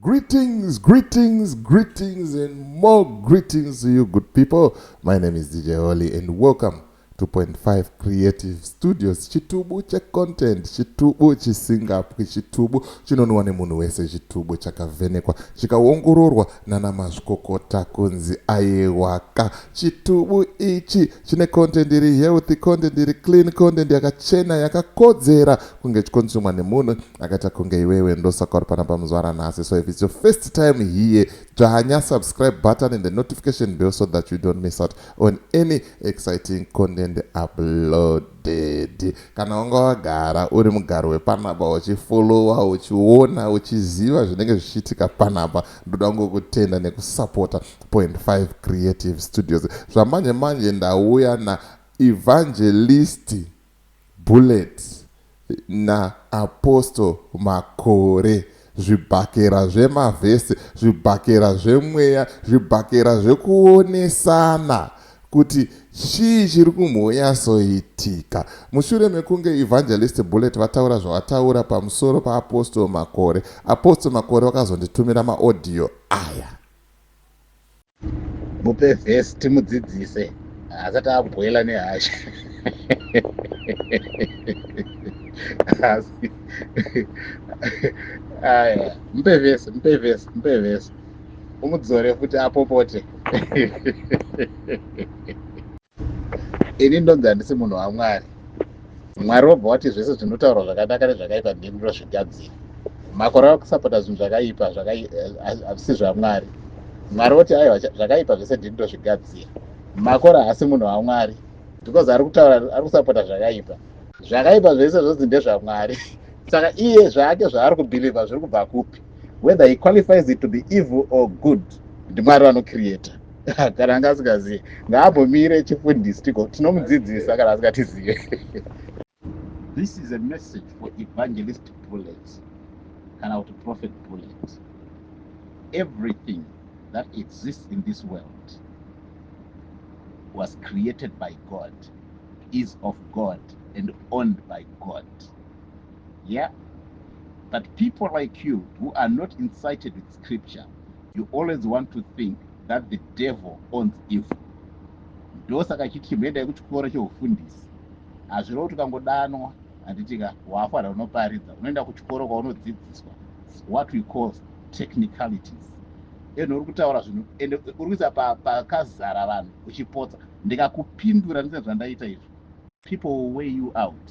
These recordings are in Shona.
Greetings, greetings, greetings, and more greetings to you, good people. My name is DJ Holly, and welcome to Point Five Creative Studios. Chitubu che content, chitubu chisingapwi, chitubu chinonwa nemunhu wese, chitubu chakavhenekwa, chikaongororwa nana mazvikokota kunzi aiwaka. Chitubu ichi chine content iri healthy, content iri clean, content yakachena, yakakodzera kunge chikonsumwa nemunhu akaita kunge iwewe ndosaka uri panapa muzvara nhasi so if its your first time here dzvanya subscribe button and the notification bell so that you don't miss out on any exciting content uploaded kana wanga wagara uri mugaro wepanapa uchifollowa uchiona uchiziva zvinenge zvichiitika panapa ndoda kungokutenda nekusupporta point 5 creative studios zvamanje manje ndauya na evangelisti Bullet na Apostle Makore zvibhakera zvema verse zvibhakera zvemweya zvibhakera zvekuonesana kuti chii chiri kumbonyasoitika mushure mekunge Evangelist Bullet vataura zvavataura pamusoro pa Apostle Makore Apostle Makore vakazonditumira ma audio aya mupe vhesi timudzidzise asati agwela nehasha asi aya mupe vhesi mupe vhesi mupe vhesi umudzore futi apopote ini ndonzi handisi munhu wamwari mwari wobva wati zvese zvinotaurwa zvakanaka nezvakaipa ndimi ndozvigadzira makore akusapota zvinhu zvakaipa hazvisi eh, zvamwari mwari woti aiwa zvakaipa zvese ndini ndozvigadzira makore haasi munhu wamwari because ari kutaura ari kusapota zvakaipa zvakaipa zvese zvonzi ndezvamwari saka iye zvake zvaari kubhilivha zviri kubva kupi whether he qualifies it to be evil or good ndimwari vanocreata kana anga asingazive ngaambomire chifundisi tigo tinomudzidzisa kana asingatizive this is a message for evangelist bullet kana kuti prophet bullet everything that exists in this world was created by god is of god and owned by god yeah but people like you who are not incited with scripture you always want to think that the devil owns evil ndosaka achiti chimboendai kuchikoro cheufundisi hazvireva kuti ukangodanwa handitika waafanira unoparidza unoenda kuchikoro kwaunodzidziswa what we call technicalities and uri kutaura zvinhu and uri kuisa pakazara pa vanhu uchipotsa ndikakupindura ndine zvandaita izvi people will weigh you out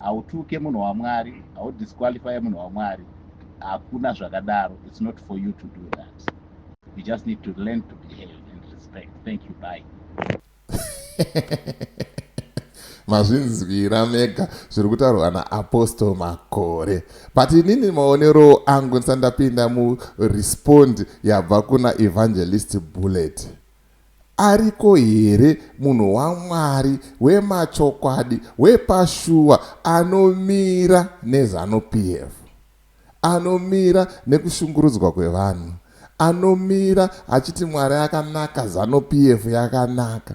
Hautuke munhu waMwari, hau disqualify munhu waMwari, hakuna zvakadaro, it's not for you to do that. You just need to learn to behave and respect. Thank you, bye. mazvinzwira mega zviri kutaurwa naapostle makore but inini maonero angu ndisati ndapinda murespond yabva kuna evangelist bullet Ariko here munhu waMwari wemachokwadi wepashuwa anomira neZanu PF? Anomira nekushungurudzwa kwevanhu? Anomira achiti Mwari akanaka Zanu PF yakanaka?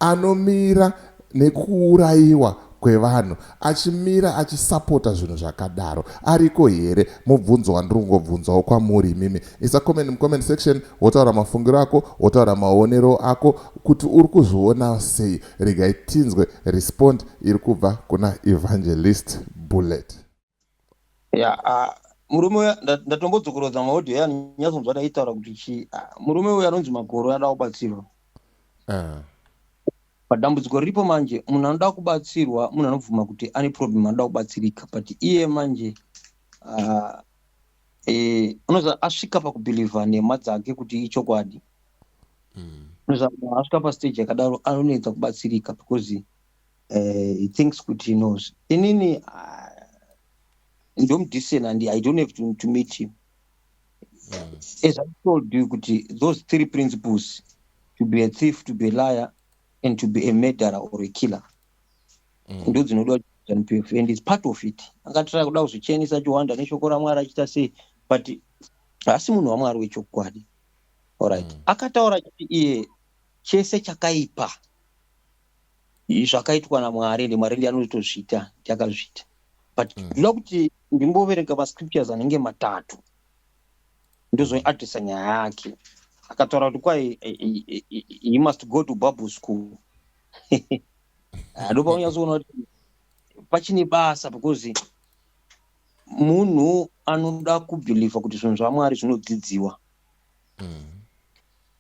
Anomira nekuurayiwa kwevanhu achimira achisapota zvinhu zvakadaro ariko here mubvunzo wandiri kungobvunzawo kwamuri imimi isa comment mucomment section wotaura mafungiro ako wotaura maonero ako kuti uri kuzviona sei regai tinzwe respond iri kubva kuna evangelist bullet ya ah, murume uya nda- ndatombodzokorodza maaudio ya nyatsonzwa taitaura kuti chii Ah, murume uya anonzi magoro anoda kubatsirwa Ah, padambudziko riripo manje munhu anoda kubatsirwa munhu anobvuma kuti ane problem anoda kubatsirika but iye manje ah, eh, unoza asvika pakubhilivha nhema dzake kuti ichokwadi mm, unoza munhu asvika pastage yakadaro anonetsa kubatsirika because uh, he thinks kuti he knows inini uh, ndomudisen and i don't have to, to meet him mm. as i told you kuti those three principles to be a thief to be a liar and to be a murderer or a killer mm. ndo dzinoda zanupf and is part of it angatira kuda kuzvichenisa achiwanda neshoko ramwari achiita sei but haasi munhu wamwari wechokwadi orit mm. akataura chii iye chese chakaipa zvakaitwa naMwari and Mwari ndiye anotozviita ndiakazviita but mm. ndoda kuti ndimboverenga mascriptures anenge matatu ndozoadressa nyaya yake akataura kuti kwai eh, eh, eh, he must go to bible school ndopaunyatsoona ah, kuti pachine basa because munhu anoda kubhilivha kuti zvinhu zvamwari zvinodzidziwa mm.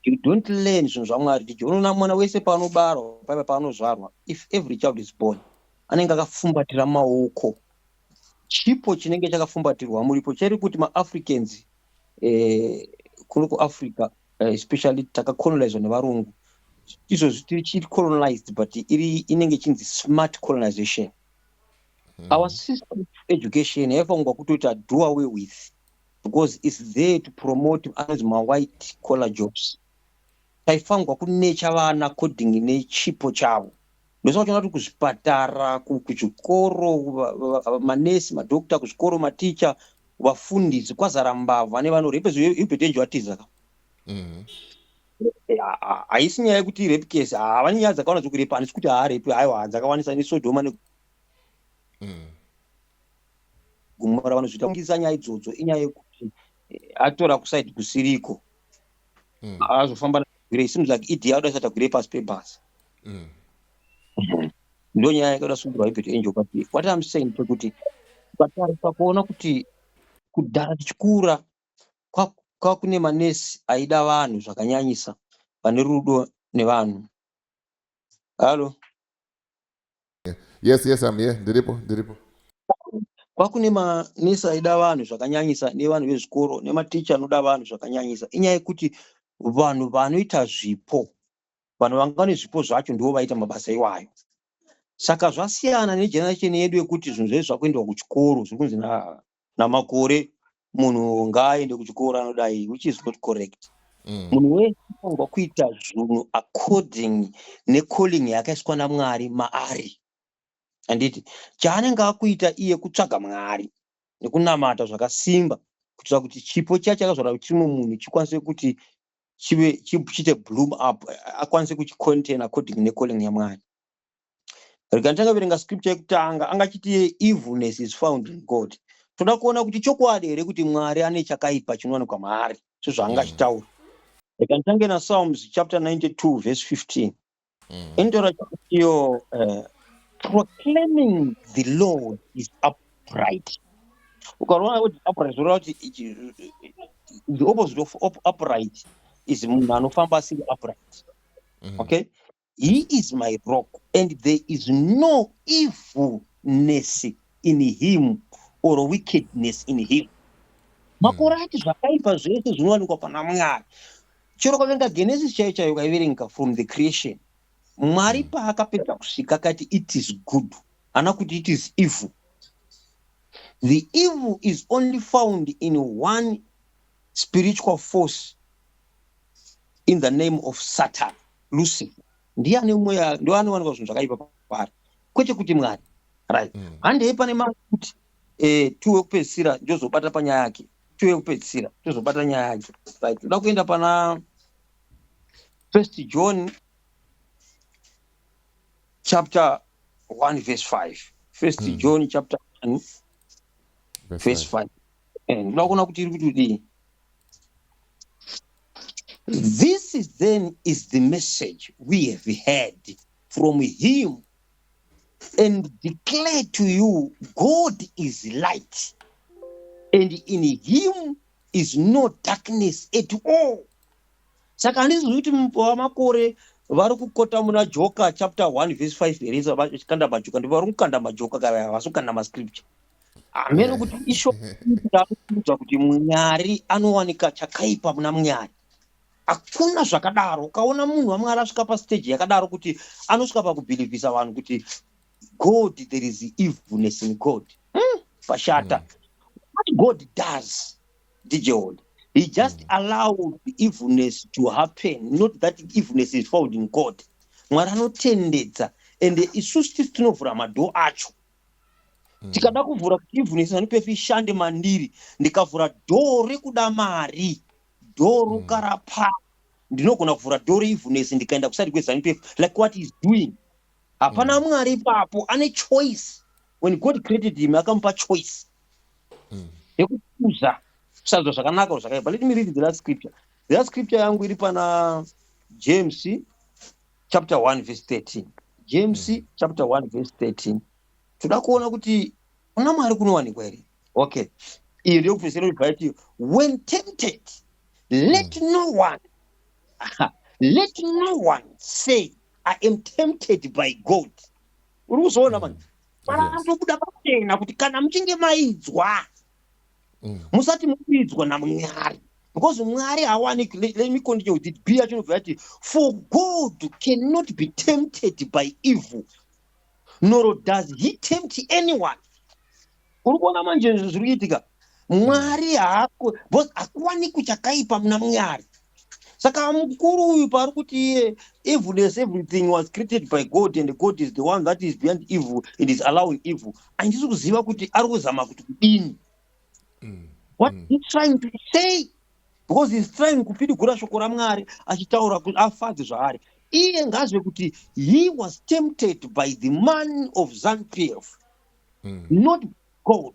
you don't learn zvinhu zvamwari jiji unoona mwana wese paanobarwa paiva paanozvarwa if every child is born anenge akafumbatira maoko chipo chinenge chakafumbatirwa muripo cheri kuti maafricans eh, kuno kuafrica eh, especially takacolonizwa nevarungu izvozvi tiri chiri colonized but iri inenge chinzi smart colonization mm. our system education yaifangwa kutoita do away with because its there to promote anonzi mawhite collar jobs taifanirwa kunecha vana according nechipo chavo ndosa kuchona kuti kuzvipatara kuzvikoro manesi madokta kuzvikoro maticha vafundisi kwazara mbavha nevanhu repezuebetenji vatiza ka mm-hmm. eh, haisi nyaya yekuti repe case havane nyaya dzakawana dzekurepa handisi kuti haarepi haiwa dzakawanisa nesodhoma ne mm. gumora vanozviita kungisa nyaya idzodzo inyaya yekuti eh, atora kusaidi kusiriko mm. azofamba natagwire it seems like ed yakuda isa tagwire pasi pebhasi mm. ndo nyaya yakaita sungirwa ibet angel but what im saying pekuti ukatarisa kuona kuti kudhara tichikura kwakune manesi aida vanhu zvakanyanyisa vane rudo nevanhu halo Yes, yes, I'm here. Ndiripo, ndiripo. Kwakune manesi aida vanhu zvakanyanyisa nevanhu vezvikoro nematicha anoda vanhu zvakanyanyisa. Inyaya yekuti vanhu vanoita zvipo, vanhu vanga vane zvipo zvacho ndivo vaita mabasa iwayo. Saka zvasiyana negeneration yedu yekuti zvinhu zvedu zvakuendwa kuchikoro zviri kunzi na namakore munhu ngaaende kuchikoro anodai which is not correct mm. munhu wese anofanirwa kuita zvinhu according necalling yakaiswa namwari maari handiti chaanenge akuita iye kutsvaga mwari nekunamata zvakasimba kuitira kuti chipo chiya chakazvara kuti chimwe munhu chikwanise kuti chive chiite bloom up akwanise kuchicontain according necalling yamwari rekanitanga verenga scripture yekutanga anga achiti evilness is found in god toda kuona kuti chokwadi here kuti mwari ane chakaipa chinowanikwa maari sezvaanga achitaura rekanitanga na psalms chapter 92 verse 15 mm. inotaura iyo eh, proclaiming the lord is upright ukarona kuti upright zvoreva kuti the opposite of upright is munhu anofamba asiri upright mm. okay He is my rock and there is no evilness in him or wickedness in him. Makore hmm. ati zvakaipa zvese zvinowanikwa pana Mwari. Chero kavenga Genesis chaiyo chaiyo kaiverenga from the creation. Mwari hmm. paakapedza kusvika akati it is good. Hana kuti it is evil. The evil is only found in one spiritual force in the name of Satan. lucifer ndiye ane mweya ndo anowanikwa zvinhu zvakaipa paari kwete kuti mwari right mm. handei pane mamwe kuti eh, tuwe kupedzisira ndozobata panyaya yake tuwe kupedzisira tozobata nyaya yake right toda kuenda pana first john chapter 1 verse 5 first mm. john chapter 1 verse 5 Eh, ndoda kuona kuti iri kutodii this is then is the message we have heard from him and declare to you god is light and in him is no darkness at all saka handisi zvokuti mupova makore vari kukota muna joka chapter 1 vese 5 here kanda majoka ndivari kukanda majoka kavaya havasi kukanda mascripture hameno kuti ishoudzwa kuti mwari anowanika chakaipa muna mwari hakuna zvakadaro ukaona munhu wamwari asvika pasteji yakadaro kuti anosvika pakubhilivhisa vanhu kuti god there is evilness in god hmm, pashata mm. what god does ndijehoda he just mm. allowed evilness to happen not that evilness is found in god mwari anotendedza ende isusu tisi tinovhura madhoo acho tikada kuvhura kuivhunisani pefi ishande mandiri ndikavhura dhoo rekuda mari dhoo mm. rokara pa ndinogona kuvhura dhoo reivhunesi ndikaenda kusati kwezanu pefi like what is doing hapana mm. mwari ipapo ane choice when god created him akamupa choice mm. yekukuza kusadzwa zvakanaka or zvakaipa let me read the last scripture the last scripture yangu iri pana james chapter 1 verse 13 james mm. chapter 1 verse 13 toda kuona kuti kuna mwari kunowanikwa here okay iyo ndiyo kufesera kuti vaiti when tempted let mm. no one let no one say i am tempted by god uri kuzoona mani mm. panotobuda pachena kuti kana muchinge mainzwa mm. musati mubidzwa namwari because mwari hawaniki let me continue with it bia chinobva yati for god cannot be tempted by evil nor does he tempt anyone uri kuona manje zviri kuitika mwari hakuwanikwi chakaipa muna mwari saka mukuru uyu paari kuti iye evil as everything was created by god and god is the one that is beyond evil and is allowing evil andisi kuziva kuti ari kuzama kuti kudini mm, what mm. he trying to say because heis trying kupidigura shoko ramwari achitaura kuti afadze zvaari iye ngazve kuti he was tempted by the man of zanpf mm. not god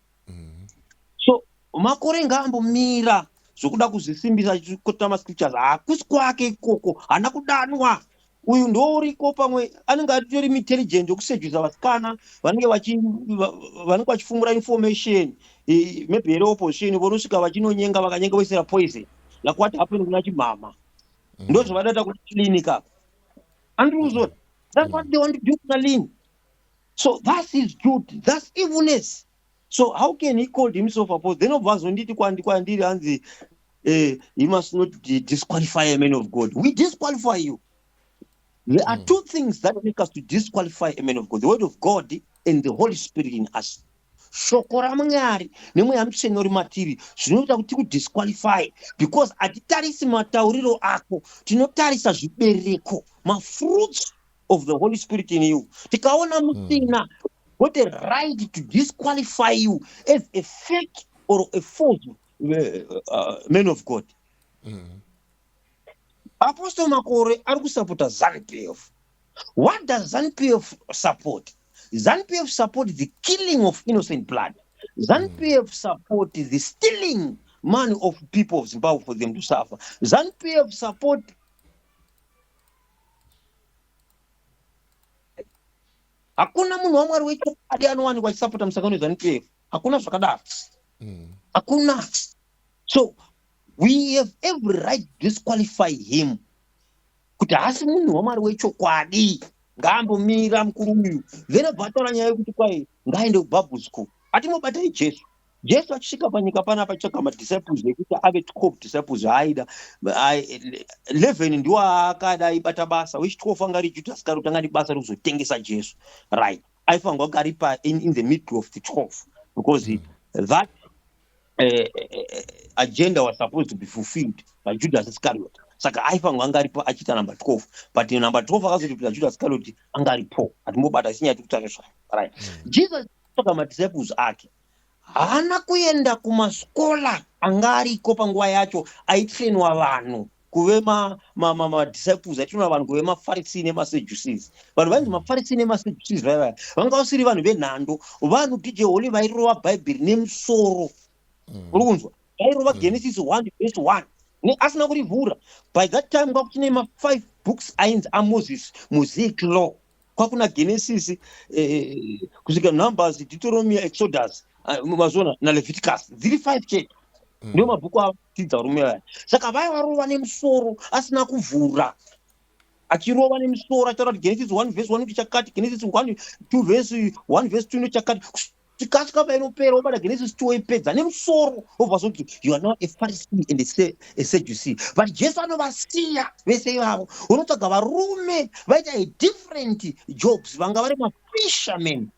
mm-hmm. so makore ngaambomira zvokuda kuzvisimbisa chikota mascriptures hakusi kwake ikoko haana kudanwa uyu ndouriko pamwe anenge atori intelligent yokusejwisa vasikana vanenge vanenge vachifumura information e, maybe here opposition vonosvika vachinonyenga vakanyenga voisira poison like what happened kuna chimhama mm. ndo zvavadaita kuti clinic apa andriuzoti that's what they want to do kuna lini so thus is truth thus evilness so how can he called himself apostle then obva azonditi kwandi kwandiri hanzi eh, he must not disqualify a man of god we disqualify you there are mm. two things that make us to disqualify a man of god the word of god and the holy spirit in us shoko ramwari nemweya mutsvene uri matiri zvinoita kuti tikudisqualify because hatitarisi matauriro ako tinotarisa zvibereko mafruits of the holy spirit in you tikaona hmm. musina got a right to disqualify you as a fake or a false uh, uh, man of god mm. apostle makore ari kusapota zanpf what does zanpf support zanpf support the killing of innocent blood zanpf mm. support the stealing money of people of zimbabwe for them to suffer zanpf support hakuna munhu wamwari wechokwadi anowanikwa achisapota musangano wezanup f hakuna zvakadaro mm. hakuna so we have every right to disqualify him kuti haasi munhu wamwari wechokwadi ngaambomira mukuru uyu then abva ataura nyaya yekuti kwai ngaaende kubabhu school atimobatai jesu jesu achisvika panyika pana apatsvaga madisciples ekuti ave twelve disciples aaida eleven ndiwo aakada aibata basa which twelve anga ari judhasi kari kutanga nebasa rekuzotengesa jesu right aifanirwa kunge ari pa in, in the middle of the twelve because mm. that uh, uh, agenda was supposed to be fulfilled by judas iscariot saka aifanirwa anga aripo achiita number twelve but number twelve akazoti kuita judas iscariot anga aripo hatimbobata sinyaya tikutarisa right mm. jesus Saka madisciples ake haana kuenda kumasikola anga ariko panguva yacho aitrainwa vanhu kuve madisciples aitrainwa vanhu kuve mafarisii nemaseducees vanhu vainzi mafarisii nemaseducees vaya vaya vanga vasiri vanhu venhando vanhu dj holy vairova bhaibheri nemusoro mm. uri kunzwa vairova mm. genesis one vese one asina kurivhura by that time kwakuchine mafive books ainzi amoses mosaic law kwakuna genesis eh, eh, eh kusvika numbers deuteromia exodus ah, mazviona naleviticus dziri five chete mm. ndiwo mabhuku avo tidza varume vaya saka vaya varova nemusoro asina kuvhura achirova nemusoro achitaura kuti genesis one vhesi one kuti chakati genesis one two vhesi one vhesi two nechakati tikasvika painopera wobata genesis two woipedza nemusoro wobva zoti you are not a pharisee and a seducee but jesu anovasiya vese ivavo unotsvaga varume vaita a different jobs vanga vari mafisherman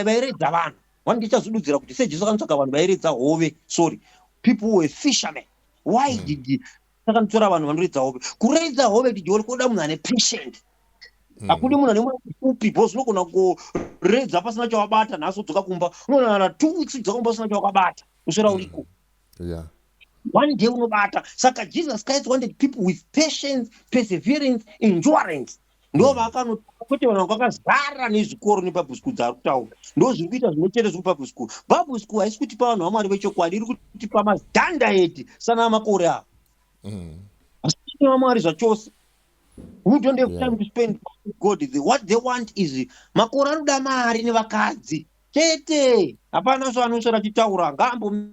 vairedza vanhu one ndichazodudzira kuti sejesu akanotsvaga vanhu vairedza hove sorry people were fisherman why mm. did saka nditora vanhu vanoridza hove kuraidza hove dijori kuoda munhu ane patient mm. hakudi munhu ane mwana upi bho zvinogona kuredza pasina chawabata nhasi udzoka kumba unonana two weeks udzoka kumba usina chawakabata usvera mm. uriko yeah one day unobata saka jesus christ wanted people with patience perseverance endurance ndovakanotaa kwete vanhu vakakazara nezvikoro nebabhu school dzaari kutaura ndo zviri kuita zvimwe chete zvekubabhu school babhu school haisi kutipa vanhu vamwari vechokwadi iri kutipa mazanda edi sanaa makore avo mm. asi ine vamwari zvachose we don't have time to spend god the, what they want is makore anoda mari nevakadzi chete hapana zvaanoshara chitaura ngaambom